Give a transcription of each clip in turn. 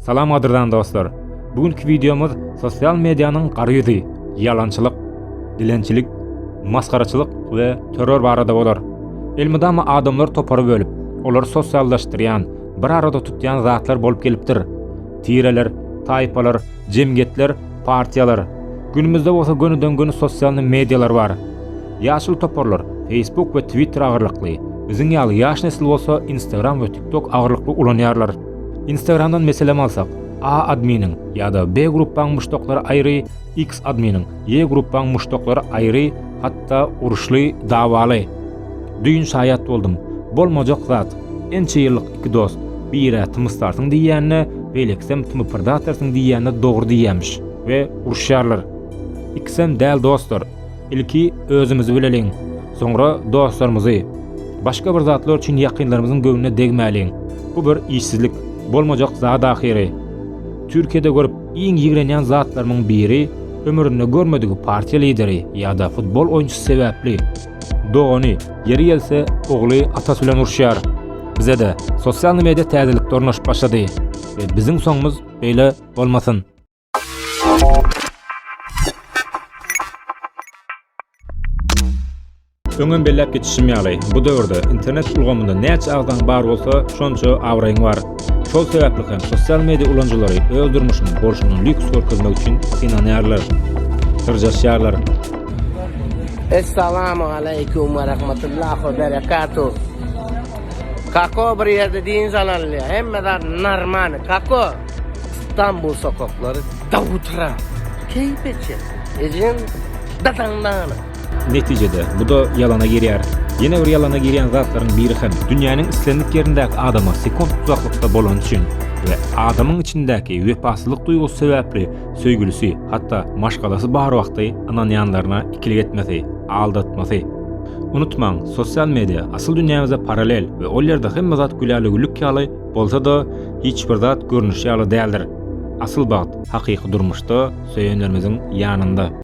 Salam gadyrdan dostlar. Bu günki wideomyz sosial medianyň gara ýüzi, ýalançylyk, dilençilik, masgaraçylyk we terror barada bolar. Elmydama adamlar topary bölüp, olary sosiallaşdyrýan, bir arada tutýan zatlar bolup gelipdir. Tireler, taýpalar, jemgyýetler, partiýalar. Günümizde bolsa gönüden-göni sosial medialar bar. Ýaşuly toparlar Facebook we Twitter agyrlykly, biziň ýaly ýaş nesil bolsa Instagram we TikTok agyrlykly ulanýarlar. Instagramdan meselem alsak, A adminiň ýa-da B gruppaň muşdaklary aýry, X adminiň, Y gruppaň muşdaklary aýry, hatda uruşly, dawaly. Düýn şaýat boldum. Bolmajak zat. Ençe ýyllyk iki dost, birä tymysarsyň diýýänine, beýlekisem tymypyrdatarsyň diýýänine dogry diýýämiş we uruşýarlar. Ikisem däl dostlar. Ilki özümizi bileliň, soňra dostlarymyzy, başga bir zatlar üçin ýakynlarymyzyň göwnüne degmäliň. Bu bir işsizlik, bolmajak zat ahyry. Türkiýede görüp iň ýigrenýän zatlarymyň biri ömründe görmedigi partiýa lideri ýa-da futbol oýunçysy sebäpli. Dogany, ýeri gelse, ogly atasy bilen uruşýar. Bize-de sosialny media täzelikde ornaşyp başlady we biziň soňumyz beýle bolmasyn. Öňem belläp geçişim ýaly, bu döwürde internet ulgamynda näçe agzaň bar bolsa, şonça abraýyň bar. Şol sebäpli hem sosial media ulanyjylary öz durmuşynyň bolşuny lýuks görkezmek üçin synanýarlar. Syrjaşýarlar. Assalamu alaykum we rahmatullahi we berekatuh. Kako bir ýerde diýen zalal ýa. Hemme zat normal. Kako. Stambul sokaklary dawutara, keýpeçe, ejeň dadaň nana. Netijede, bu-da ýalana girýär. Ýene bir ýalana girýän zatlaryň biri hem, dünýäniň islendik ýerindäki adama sekunt uzaklykda bolany üçin we adamyň içindäki wepasyzlyk duýgusy sebäpli söýgülisi, hatda maşgalasy bar wagty ynanýanlaryna ikilik etmesi, aldatmasy. Unutmaň, sosial media, asyl dünýämize parallel we ol ýerde hemme zat gülälä-güllük ýaly, Bolsa-da, hiç bir zat görnüşi ýaly däldir. Asyl bagt, hakyky durmuşda, söýenlerimiziň ýanynda.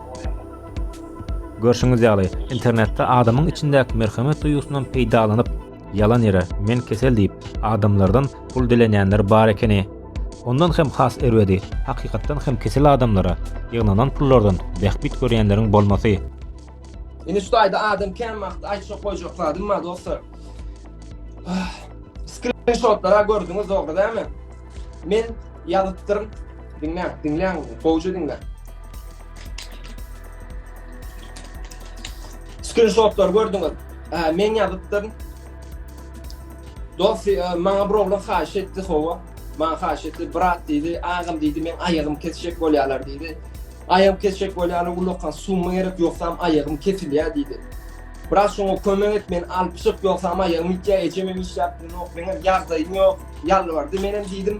Görşüňiz ýaly, internetde adamyň içindäki merhemet duýgusyndan peýdalanyp, ýalan ýere men kesel diýip, adamlardan pul dilenýänler bar ekeni. Ondan hem has erbedi, hakykatdan hem kesel adamlara ýygnanan pullardan bähbit görýänleriň bolmasy. Indi şu taýda adam kän wagt aýtjak goýjak zadym bar dostlar. Skrinşotlara gördüňiz dogry dämi? Men ýazypdyryn. Diňläň, diňläň, gowja diňläň. Skrinşotlary gördüňiz. Hä, men ýazypdyryn. Dost, e, maňa bir oglan haýyş etdi, howa. Maňa haýyş etdi, brat diýdi, agam diýdi, men aýagym kesjek bolýarlar diýdi. Aýagym kesjek bolýarlar, ulakan summa gerek, ýogsam aýagym kesilýär diýdi. Brat şoňa kömek et, men alyp çyk, ýogsam aýagym ýitýär, ejem hem işläp durýar, meň hem ýagdaýym ýok. Ýalbardy, menem diýdim,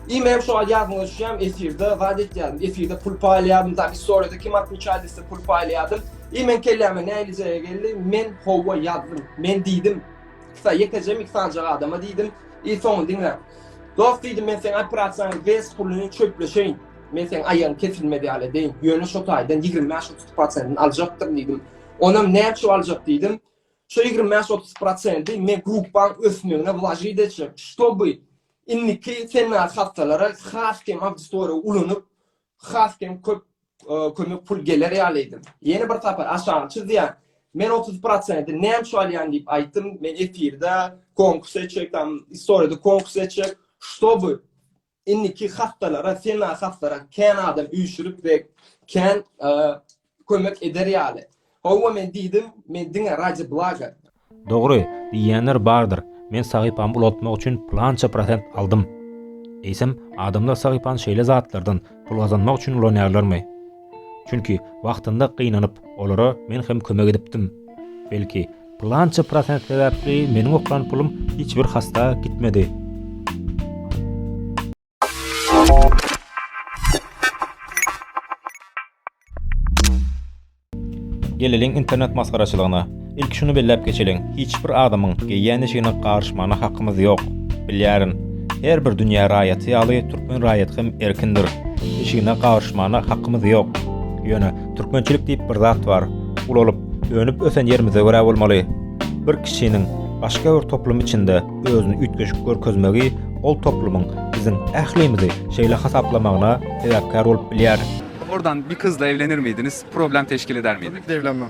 I menem şo wagt ýadyma düşýärmi, efirde zat etýärdim, efirde pul paýlaýardym, tam istoriýada kim atwiçaý dese pul paýlaýardym. I meň kelläme nähili jaýa geldi, men howwa ýazdym. Men diýdim, Ksa, ýekejemi iki sanjak adama diýdim, I soňuny diňle. Dost diýdim, men seň operasiýaňy west puluny çöpleşeýin. Men seň aýagyň kesilmez ýaly edeýin. Ýöne şo taýdan ýigrimi bäş-otuz prosentini aljakdyryn diýdim. Onam näçe aljak diýdim. Şu ýigrimi bäş otuz prosenti me grupbaň ösmegine wlažit etjek, ştoby indiki sennar hassalara has kem awditoriýa ulanyp, has kem köp kömek pul geler ýaly edim. Ýene bir sapar aşagy çyzýan, men otuz prosenti näme üçin alýan diýip aýtdym, men efirde konkurs etjek, tam istoriýada konkurs etjek, ştoby Indiki hassalara sena hassara kän adam üýşürip we kän kömek eder ýaly. Howwa men diýdim, men diňe raji blaga. Dogry, diýýänler bardyr, men sahypamy ulaltmak üçin pylança prosent aldym. Eýsem, adamlar sahypany şeýle zatlardan, pul gazanmak üçin ulanýarlarmy? Çünki wagtynda gynanyp, olara men hem kömek edipdim. Belki, pylança prosent sebäpli meniň oklan pulum hiç bir hasta gitmedi. Geleliň internet masgaraçylygyna. Ilki şuny belläp geçeliň, hiç bir adamyň geýýän eşigine garyşmagyna hakymyz ýok. Bilýärin, her bir dünýä raýaty ýaly türkmen raýaty hem erkindir. Eşigine garyşmagyna hakymyz ýok. Ýöne türkmençilik diýip bir zat bar. Ulalyp, önüp-ösen ýerimize görä bolmaly. Bir kişiniň başga bir toplum içinde özüni üýtgeşik görkezmegi ol toplumyň biziň ählimizi şeýle hasaplamagyna sebäpkär bolup bilýär. Oradan bir kyzla evlenir miydiniz? Problem teşkil eder miydi? Tabii ki de evlenmem.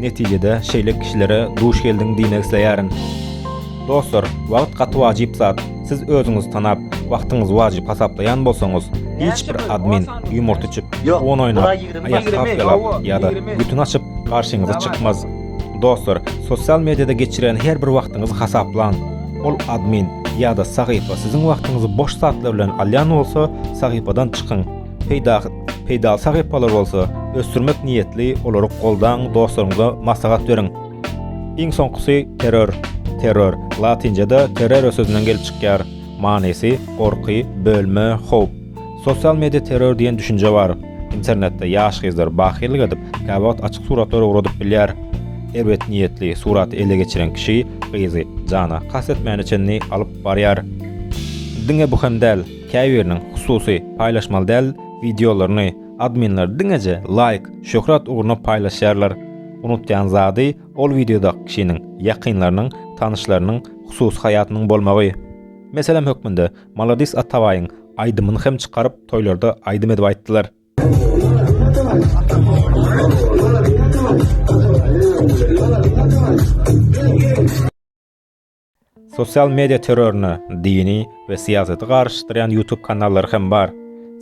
Netijede şeýle kişilere duş geldiň diýmek isleýärin. Dostlar, wagt gaty wajyp zat. Siz özüňizi tanap, wagtyňyzy wajyp hasaplaýan bolsaňyz, hiç bir admin ýumurt içip, on oýnap, aýak tapýalap ýa-da gütün açyp garşyňyza çykmaz. Dostlar, sosial mediada geçirýän her bir wagtyňyzy hasaplaň. Ol admin ýa-da sahypa siziň wagtyňyzy boş zatlar bilen alýan bolsa, sahypadan çykyň. Peýdaly sahypalar bolsa ösdürmek niýetli olary goldaň dostlaryňyza maslahat beriň. Iň soňkusy terror. Terror, latyncada terrore sözünden gelip çykýar. Manysy, gorky, bölme, howp. Sosial media terror diýen düşünje bar. Internetde ýaş gyzlar bahyllyk edip, käwagt açyk suratlar ugradyp bilýär. Erbet niýetli suraty ele geçiren kişi gyzy jana kast etmäne çenli alyp barýar. Diňe bu hem däl. Käbiriniň, hususy, paýlaşmaly däl wideolaryny adminler diňeje laýk, şöhrat ugruna paýlaşýarlar. Unutýan zady ol wideodaky kişiniň, ýakynlarynyň, tanyşlarynyň hususy haýatynyň bolmagy. Meselem hökmünde Maladys Atabaýyň aýdymyny hem çykaryp toýlarda aýdym edip aýtdylar. Sosial media terroruna dini we syýasaty garyşdyrýan ýutub kanallary hem bar.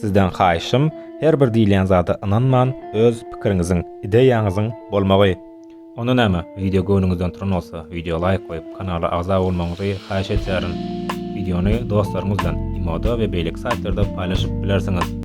Sizden haýyşym her bir diýilýän zada ynanman öz pikiriňiziň, ideýaňyzyň bolmagy. Onda näme, wideo göwnüňizden turan bolsa, wideo laýk goýup, kanala agza bolmagyňyzy haýyş edýärin. Wideony dostlaryňyz bilen, imoda we beýleki saýtlarda paýlaşyp bilersiňiz.